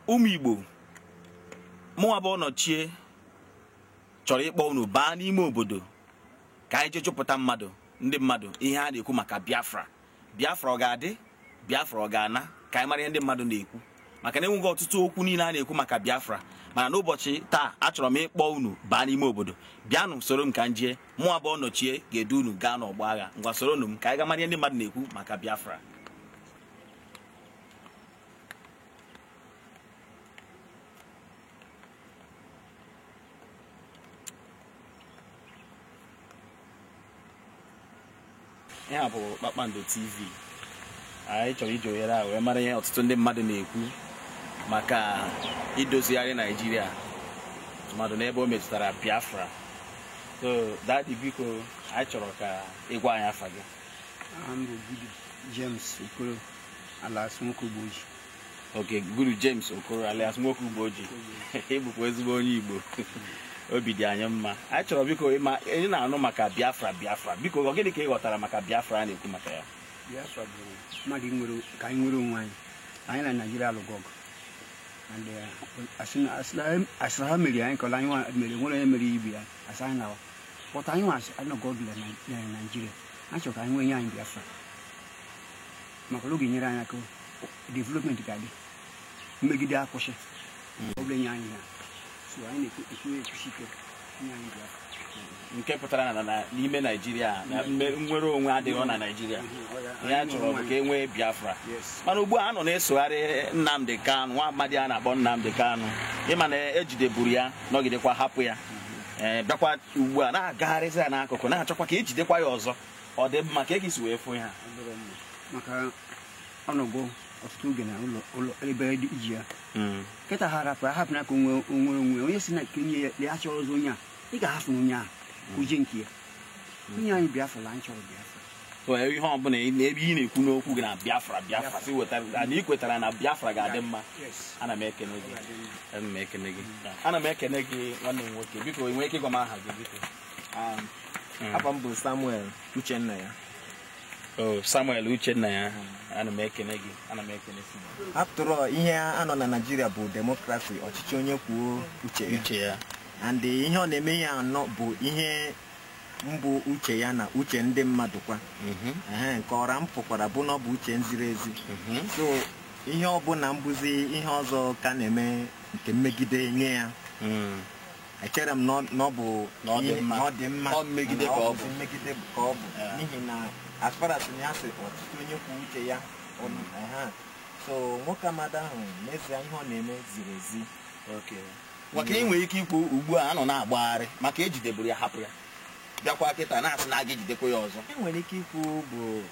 ụmụ Igbo mụnwa bụ ọnọchie chọrọ ịkpọ unu baa n'ime obodo ka anyị jee jụpụta mmadụ ndị mmadụ ihe a na-ekwu maka Biafra Biafra ọ ga-adị Biafra ọ ga-ana ka anyị mara ihe ndị mmadụ na-ekwu maka na enwego ọtụtụ okwu niile a na-ekwu maka Biafra mana n'ụbọchị taa achọrọ m ịkpọ unu baa n'ime obodo bịanụ soro m ka m jee mụnwa bụ ọnọchie ga-edu unu gaa n'ọgbọ agha ngwa soronụ m ka anyị ga mara ihe ndị mmadụ na-ekwu maka Biafra ihe a bụ kpakpando tv anyị chọrọ iji ohere a wee mara ihe ọtụtụ ndị mmadụ na-ekwu maka idozigharị naijiria tụmadụ n'ebe o metụtara biafra so dadi biko anyị chọrọ ka ị gwa anyị afa gị aha m bụ Gudu James Okoro alias Nwoke Ugboji okay Gudu James Okoro alias Nwoke Ugboji ị bụkwa ezigbo onye Igbo obi dị anyị mma anyị chọrọ biko ị ma anyị na-anụ maka Biafra Biafra biko ọ gịnị ka ị ghọtara maka Biafra a na-ekwu maka ya Biafra bụ mmadụ nwere ka anyị nwere onwe anyị anyị na Naịjirịa alụgo ọgụ and uh, asị na- asị na- asị na ha meriri anyị kọla anyị nwa- mere nwere onye mere ibe ya asị anyị na but anyị nwa sị anyị nọgo ọdụ na naijiria anyị chọrọ ka anyị nwee nye anyị biafra maka na ọ ga-enyere anyị aka development ga-adị mmegide akwụsị ọ bụrụ e nye anyị ya so anyị na-ekwu ekwusi ike nye anyị biafra nke pụtara na na- n'ime naijiria na mme- nnwere onwe adịghị na naijiria ihe a chọrọ bụ ka e nwee biafra Yes. mana ugbu a a nọ na-esogharị nnamdị kanụ nwa amadi a na-akpọ nnamdị kanụ ị ma na ejideburu ya nọgidekwa hapụ ya ee bịakwa ugbu a na-agagharịzi ya n'akụkụ na-achọkwa ka ejidekwa ya ọzọ ọ dị mma kee ka i si wee fụ ya maka ọ nọgo ọtụtụ oge na ụlọ ụlọ ebe dị iji ya kịta ha rapụ ahapụ na ka onwe onwe onwe onye si na nke onye ya lee achọrọ ọzọ onye a ị ga-ahapụ na onye a ka o jee nke ya e nye anyị biafra na anyị chọrọ biafra so ihe ọbụla na ebe ị na-ekwu n'okwu gị na biafra biafra si wetara na ị kwetara na biafra ga-adị mma ana m ekene gị ana m ekene gị ana m ekene gị nwanne m nwoke biko ị nwere ike ịgwa m aha gị biko Hmm. afa m bụ samuel uchennaya Oh, samuel uchennaya ana m ekene gị ana m ekene gị after all ihe a nọ na naijiria bụ demokrasi ọchịchị onye kwuo uche ya uche ya and ihe ọ na-eme ihe a nọ bụ ihe mbụ uche ya na uche ndị mmadụ kwa mhm. ehe nke ọra m pụkwara bụ na ọ bụ uche nziri ezi mhm. so ihe ọbụla mbụzi ihe ọzọ ka a na-eme nke mmegide nye ya hmm. echere m na ọ bụ na ọ dị mma mmegide ka ọ bụ n'ihi na as far as na a sị ọchịchị onye kwuo uche ya so nwoke amadi ahụ n'ezie ihe ọ na-eme ziri ezi maka ị nwere ike ikwu ugbu a a nọ na-agbagharị maka e jideburu ya hapụ ya bịakwa kịta na-asị na a ga-ejidekwa ya ọzọ e nwere ike ikwu bụ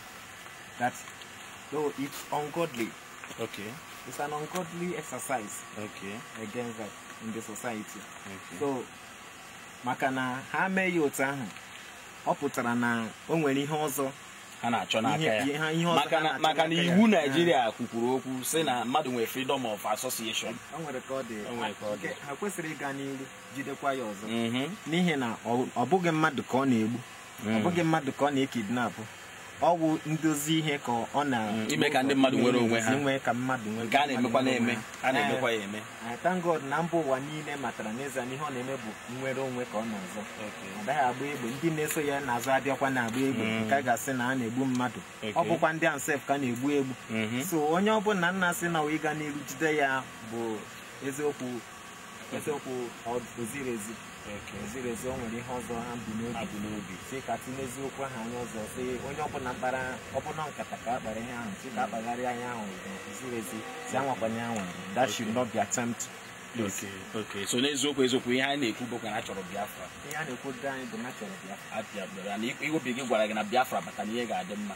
that though it's ungodly okay it's an ungodly exercise okay against that in the society okay. so maka na ha mee ya otu ahụ ọ pụtara na o nwere ihe ọzọ ha na-achọ n'aka Ihe- ya ihe- ha- ihe ọzọ maka ha na- na-achọ maka na n'aka ya. iwu naijiria kwukwuru okwu sị na mmadụ nwere freedom of association o nwere ka ọ dị O nwere ka ọ dị. Nke- ha kwesịrị ịga n'iru jidekwa ya ọzọ Mhm. n'ihi na ọ ọ bụghị mmadụ ka ọ na-egbu ọ bụghị mmadụ ka ọ na-ekidnapụ ọ bụ ndozi ihe ka ọ na ime ka ndị mmadụ nwere onwe ha. Inwe ka mmadụ nwere nke a na-emekwa na-eme a na-emekwa ya eme I thank God na mba ụwa niile matara n'ezie na ihe ọ na-eme bụ nnwere onwe ka ọ na-azọ Okay. ọ daghị agba egbe ndị na-eso ya n'azụ adịghịkwa na-agba egbe Mm. nke a ga-asị na a na-egbu mmadụ ọ Okay. bụkwa ndị ahụ sef ka a na-egbu egbu Mhm. so onye ọbụla na-asị na ọ bụ ịga n'iru jide ya bụ eziokwu eziokwu ọ- o ziri ezi O ziri ezi o nwere ihe ọzọ ha bu n'obi ha bu n'obi sị ka e tinyezi okwu ahụ anya ọzọ sị onye ọbụla mkpara ọbụla nkata ka a kpara ihe ahụ sị ka a kpagharịa anya ahụ ziri ezi sị anwakwana ya anwa that should not be attempt please Okay, okay. so n'eziokwu eziokwu ihe anyị na-ekwu bụkwa na a chọrọ biafra ihe a na-ekwu ndị anyị bụ na a chọrọ biafra na obi gị gwara gị na biafra bata na ihe ga-adị mma